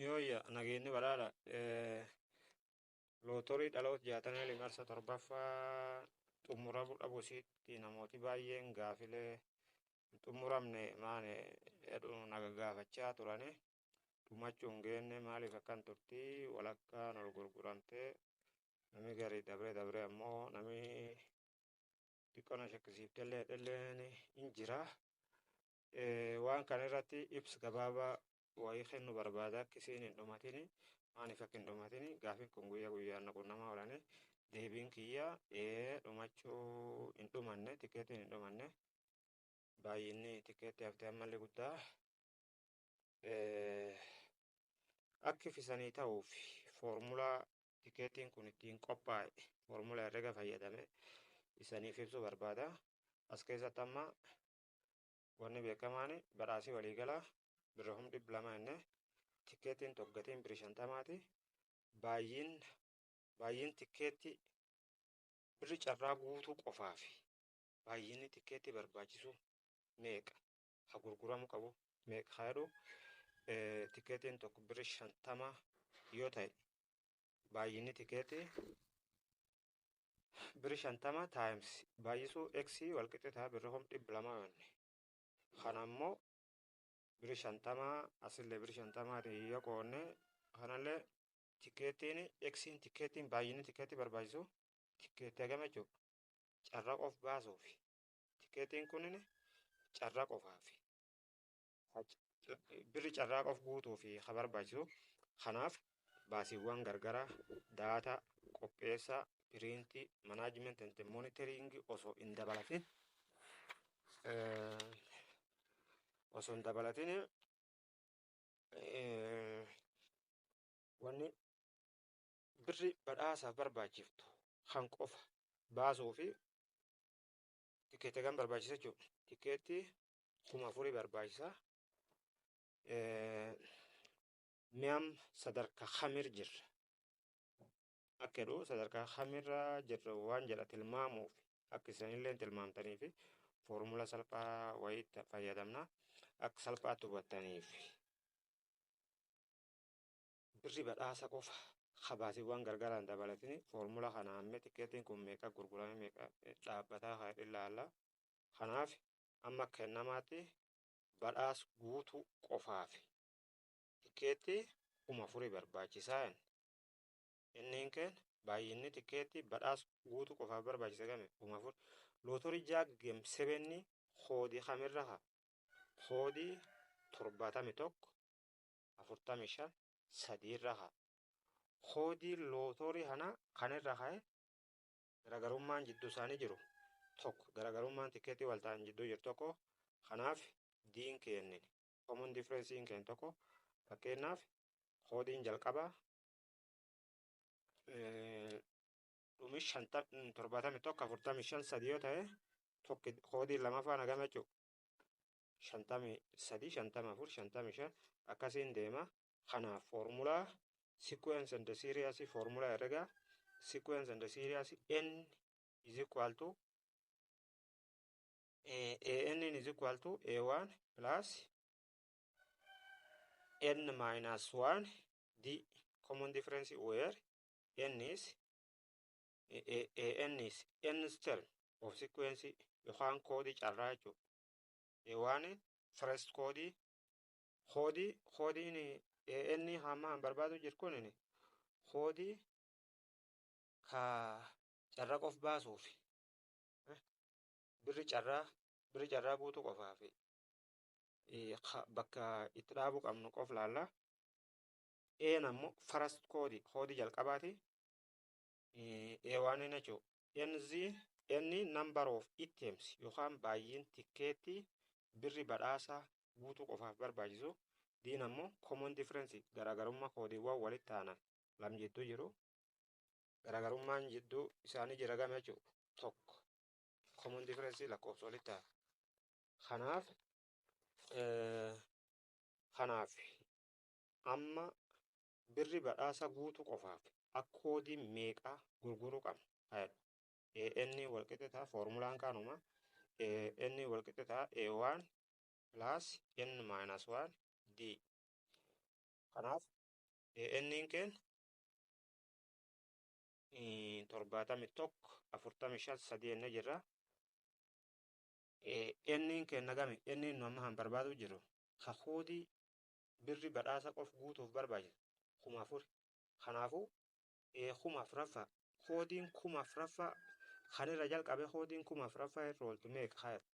Yooyya nageenyi badhaadha. Lootorii dhaloota jaatamee limarsa torbaffaa xumuramuu dhabu isiitti namooti baay'een gaafilee hin xumuramne maane jedhu naga gaafachaa turani. Dhumachuun geenne maaliif akkan turti walakkaan ol gurguramtee namni garii dabree dabree ammoo namni xiqqoo na shakkisiiftellee dhalleen hin jira. Waan kana irratti ibsa gabaabaa wayii kennu barbaada akka isiin hin dhumatini maaliif akka hin dhumatini gaafiin kun guyyaa guyyaan na qunnamaa oolanii deebiin kiyya dhumachuu hin dhumanne tikeetiin hin dhumanne baay'inni tikeetti haftee ammallee guddaa akki fisanii ta'uuf foormulaa tikeettiin kun ittiin qophaa'e foormula herrega fayyadame isaniif ibsuu barbaada. As keessatti amma wanni beekamaan badhaasii waliigalaa birra kum dhibba lama inni tikeettiin tokko gatiin birri shantamaati. Baay'een baay'een tikeettii birri carraa guutuu qofaafi baay'inni tikeettii barbaachisu meeqa? ka gurguramu qabu meeqa ka jedhu tikeetiin tokko birri shantama yoo ta'e baay'inni tikeetii birri shantama taayims baay'isuu x walqixxee ta'a birri hom dhibba lama yoonni kana immoo birri shantama asillee birri shantama yoo qoonne kanallee tikeetiin x tikeetiin baay'inni tikeetii barbaachisu tikeetii hagam jechuudha carraa of baasuufi Tikeetiin kunin carraa qofaaf. Birri carraa qof guutuuf ka barbaachisu. Kanaaf baasiiwwan gargaraa, daataa, qopheessaa, piriintii, management and monitoring osoo hin dabalatin osoo hin dabalatin wanni birri badhaasaaf barbaachiftu kan qofa baasuu fi tikeetta kan barbaachisa jechuudha. Tikeetti kuma afurii barbaachisa. Mi'am sadarkaa kamir jirra? Akka jedhu sadarkaa kamirra jirra waan jedha tilmaamuuf akka isinillee tilmaamtaniif foormula salphaa wayiitti fayyadamna akka salphaatti hubattaniif. Birri badhaasa qofa ka baasiwwan gargaraan dabalatini foormula kana hamme tikkeettiin kun meeqa gurgurame meeqa dhaabbataa ka jedhu ilaalla. Kanaaf amma akka kennamaatti badhaas guutuu qofaaf tikkeettii kuma afuri barbaachisaa jenna. Inniin keen baay'inni tikkeettii badhaas guutuu qofaaf barbaachisa game kuma afur. Lootorii jaag geem sebenni koodii kamirra ka koodii torbaatami tokko 45 3 irra ka'a. Koodiin lootoorii kanaa kan irra ka'e garaagarummaan jidduu isaanii jiru tokko garaagarummaan tikeetii wal ta'an jidduu jiru tokko kanaaf diin keennin common difference in keen tokko fakkeenyaaf koodiin jalqabaa dhumi shanta torbaatami tokko afurtami shan sadii yoo ta'e tokki koodiin lamaffaa nagama jechuudha. shantamii sadii shantama afur shantamii shan akkasiin deema kanaaf foormulaa sequence and series foormulaa herrega sequence and series n is equal to an is equal to a1 plus n minus 1 d common difference where n is ANIs, ends term of sequence yookaan koodii carraa jechuudha. Waan first koodii koodii koodiin AN hamma an barbaadu jiru kun koodii ka carraa qof baasuuf birri carraa birri carraa guutuu qofaaf bakka itti dhaabuu qabnu qof laalla. Een ammoo first koodii koodii jalqabaati. Eewaanee Nachoo. NZ, N number of items yookaan baay'een tikkeetti birri badhaasa guutuu qofaaf barbaachisu. Diin ammoo common difference garaagarummaa koodiiwwan walitti aanan lam jidduu jiru. Garaagarummaan jidduu isaanii jira gama jechuudha. Tokko common difference lakkoofsa walitti aana. Kanaaf kanaaf amma Birri badhaasa guutu qofaaf ak koodii meeqa gurguru qabna? AN walqixe ta'a foormulaan kaanuma AN walqixe ta'a A1 plus N minus 1 D. Kanaaf AN keen torbaatami tokko afurtami shan sadii enne jirra. N keen nagami N nu amma kan barbaadu jiru ka koodii birri badhaasa qof guutuuf barbaachisu kuma afuri. Kanaafuu ee kuma afraffaa koodiin kuma afraffaa kan irra jalqabe koodiin kuma afraffaa irra ooltu meeqa kaayatu.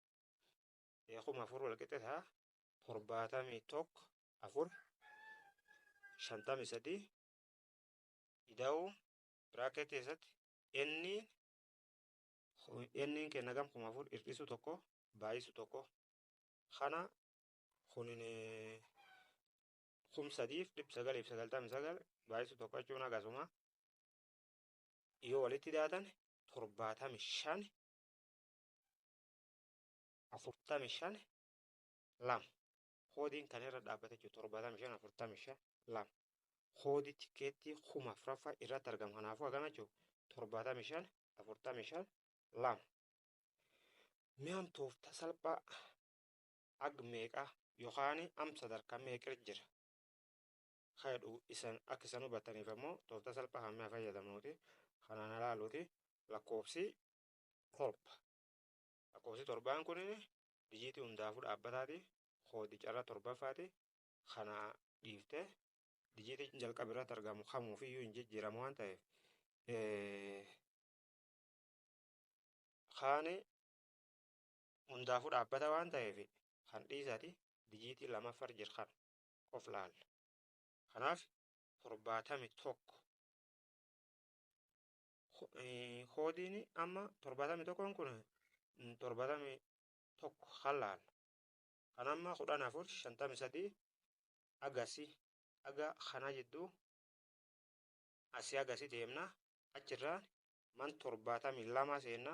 Ee kuma afur wal qixe ta'a torbaatamii tokko afur shantamii sadii ida'uu biraakeetii keessatti enniin enniin kenna gam kuma afur hir'isu tokko baay'isu tokko kana kunin kum sadiif dhibba sagaliif sagaltamii sagal baay'isu tokko jechuun akkasuma yoo walitti daatan torbaatamii shan afurtamii shan lama koodiin kan irra dhaabbate jechuudha torbaatamii shan afurtamii shan lama koodii tikeettii kuma afuraffaa irratti argamu kanaafuu akkana jechuudha torbaatamii shan afurtamii shan lama mi'aan tooftaa salphaa ag meeqa yokaani am sadarka meeqir jira ka jedhu isan ak isan hubattaniif ammoo tooftaa salphaa kan mi'a fayyadamnuuti kanaan halaaluuti lakkoofsi torba lakkoofsi torbaan kun dijiitii hundaafuu dhaabbataati koodi carra torbaffaati kana dhiifte dijiitiin jalqaba irratti argamu kamuufiyyuu hin jijjiiramu waan ta'eef kaani hundaafuu dhaabbata waan ta'eef kan dhiisati bijiitii lamaffar jir kan qof laalla kanaaf torbaatami tokko koodiin amma torbaatami tokkoon kun torbaatami tokko kan laalla kan amma kudhan afur shantami sadii agasi aga kana jidduu asii agasi deemna achirraan man torbaatami lama seenna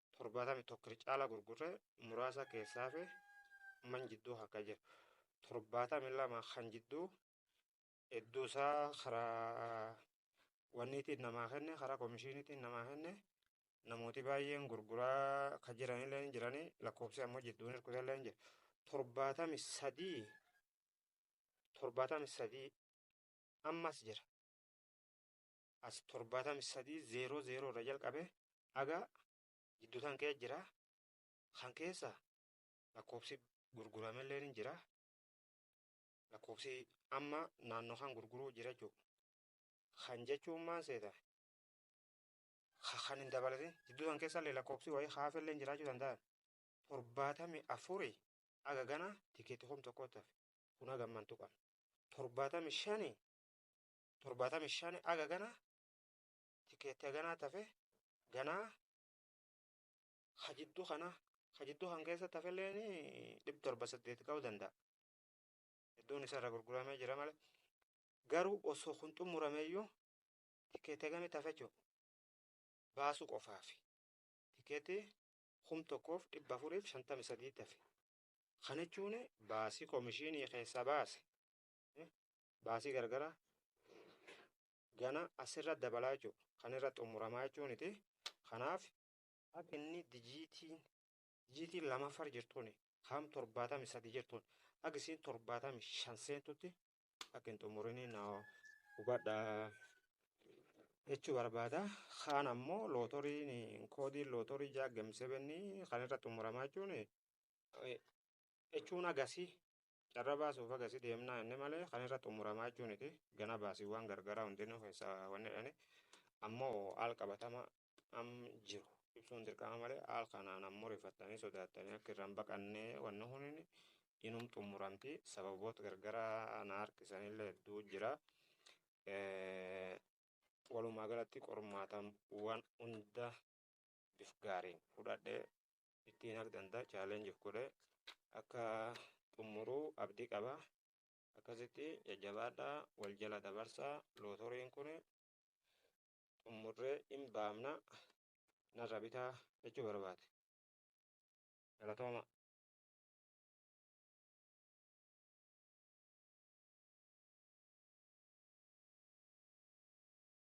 torbaatamii tokko irra caalaa gurgurre muraasa keessaa fi man jidduu akka jiru torbaatamii lama kan jidduu hedduu isaa karaa wanniitiin namaa kenne karaa komishiiniitiin namaa kenne namooti baay'een gurguraa kan jiranillee hin jiranii lakkoofsi ammoo jidduun hirkutallee hin jiru torbaatamii sadii torbaatamii sadii ammas jira as 73 0 0 irra jalqabe haga jiddu tan kee jira kan keessa lakkoofsi gurguramellee ni jira lakkoofsi amma naannoo kan gurguruu jira jechuudha kan jechuun maal seeta ka kan hin dabalatin jiddu tan keessa illee lakkoofsi wayii haafellee jiraachuu danda'an 74 haga gana tikeetii kum tokkootti hafe kun haga amman tuqan 75 torbaatamii shan aga gana tikeetti haganaa tafe ganaa ha jidduu kana ha jidduu kan keessa tafelleen dhib torba saddeeti ka'uu danda'a. Hedduun isarra gurguramee jira malee. Garuu osoo kun xumurameeyyuu tikeetti hagamii tafe jechuudha. Baasuu qofaafi. Tikeetti kum tokkoof dhibba afuriif shantamii sadii tafe. Kana jechuun baasii komishinii keessaa baase baasii gargara gana asirra dabalaa jechuudha. Kan irra xumuramaa jechuun miti. Kanaaf akka inni dijiitiin dijiitiin lamaffar jirtuun kaam torbaatamii sadi jirtuun akka isiin torbaatamii shan seentutti akka hin xumurinii na hubadha jechuu barbaada. Kaan ammoo lootoriin koodiin lootorii jaaggamsebennii kan irra xumuramaa jechuun jechuun agasi carra baasuuf agasi deemnaa inni malee kan irra xumuramaa jechuun iti gana baasiiwwan gargaraa hundinuu keessa wanni jedhani ammoo haal qabatama am jiru ibsuun dirqama malee haal kanaan ammoo rifattanii sodaattanii akka irraan baqannee wanni hunin inum xumuramti sababoota gargaraa na harkisanillee hedduu jira. Walumaa galatti qormaatawwan hunda bif gaariin fudhadhee ittiin haq danda'a challenge of godhe akka xumuruu abdii qaba akkasitti jajjabaadhaa wal jala dabarsaa lootoriin kun xumurree hin baamna narra bitaa jechuu barbaade galatooma